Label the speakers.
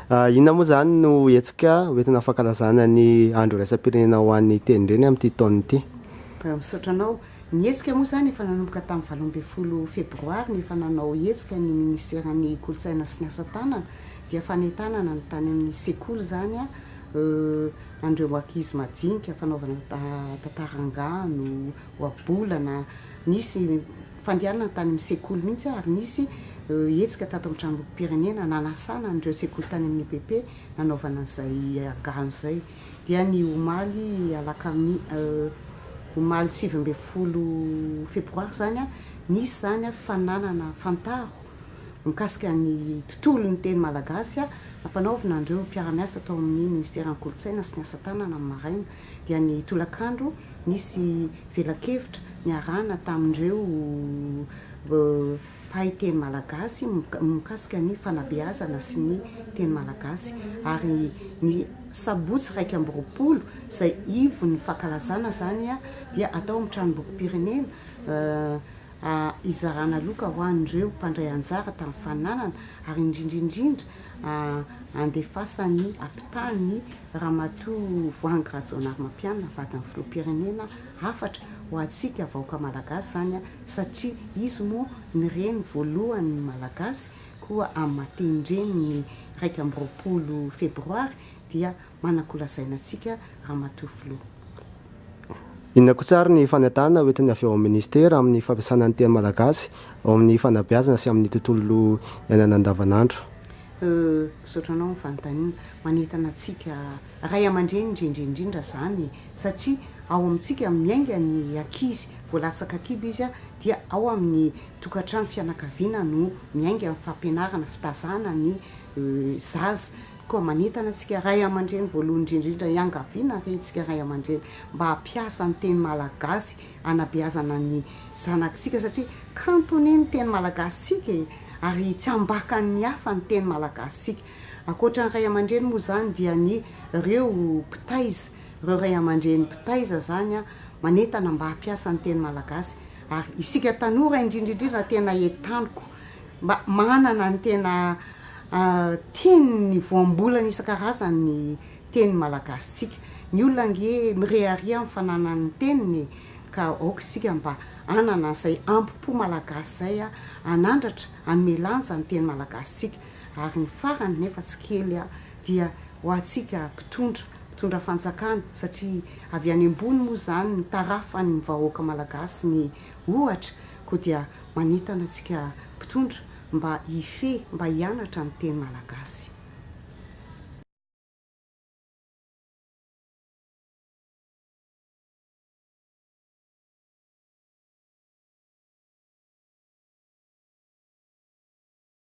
Speaker 1: Inona moa izany no hetsika hoentina fankalazana ny andro iraisam-pirenena ho an'ny tenindreny amin'ity taona ity? Misaotra anao.
Speaker 2: Ny hetsika moa izany efa nanomboka tamin'ny valo ambin'ny folo febroary ny efa nanao hetsika ny minisiteran'ny kolontsaina sy ny asa tanana dia fanentanana ny tany amin'ny sekoly izany an'ireo ankizy majinika fanaovana tantara angano ohabolana nisy fandehanana tany amin'ny sekoly mihitsy ary nisy hetsika tato amin'ny tranombokim-pirenena nanasana an'ireo sekoly tany amin'ny epp nanaovana izay angano izay dia ny omaly alakami omaly sivy ambin'ny folo febroary izany, nisy izany fananana fantaro mikasika ny tontolon'ny teny malagasy nampanaovina an'ireo mpiara-miasa tao amin'ny minisiteran'ny kolontsaina sy ny asa tanana ny maraina, dia ny tolakandro nisy velakevitra niarahana tamin'ireo. mpahay teny malagasy mikasika ny fanabeazana sy ny teny malagasy ary ny sabotsy iraika amby roapolo izay ivon'ny fankalazana izany dia atao amin'ny tranombokim-pirenena hizarana loka ho an'ireo mpandray anjara tamin'ny fananana ary indrindra indrindra handefasan'ny ampitany ramatoa Voahangy Rajaonarimampianina vadin'ny filoham-pirenena hafatra ho antsika vahoaka malagasy izany satria izy moa ny reny voalohan'ny malagasy koa amin'ny maha tenindreny ny iraika amby roapolo febroary dia manakolazaina antsika ramatoa filoha.
Speaker 1: Inona kosa ary ny fanentanana hoentiny avy ao amin'ny ministera amin'ny fampiasana ny teny malagasy ao amin'ny fanabeazana sy amin'ny tontolo iainana andavanandro? Euh,
Speaker 2: misaotra anao amin'ny fanontaniana. Manentana antsika. Ray aman-dreny indrindra indrindra izany satria ao amintsika miainga ny ankizy, vao latsaka kibo izy dia ao amin'ny tokantrano, fianakaviana no miainga ny fampianarana, fitazana ny zaza, koa manentana antsika ray aman-dreny voalohany indrindra indrindra hiangaviana re isika ray aman-dreny mba hampiasa ny teny malagasy hanabeazana ny zanakitsika satria kanto anie ny teny malagasintsika e! ary tsy ambakan'ny hafa ny teny malagasintsika. Ankoatra ny ray aman-dreny moa izany dia ny reo mpitaiza, reo ray aman-dreny mpitaiza izany an, manentana mba hampiasa ny teny malagasy ary isika tanora indrindra indrindra tena entaniko mba manana ny tena teny ny voambolana isan-karazany ny teny malagasitsika. Ny olona ange mirehareha amin'ny fananany ny teniny e! ka aoka isika mba hanana izay ambo-po malagasy izay an, hanandratra, hanome lanja ny teny malagasitsika. Ary ny farany, nefa tsy kely aho, dia ho antsika mpitondra, mpitondra fanjakana, satria avy any ambony moa izany ny tarafan'ny vahoaka malagasy ny ohatra, koa dia manentana antsika mpitondra mba hifehy, mba hianatra ny teny malagasy.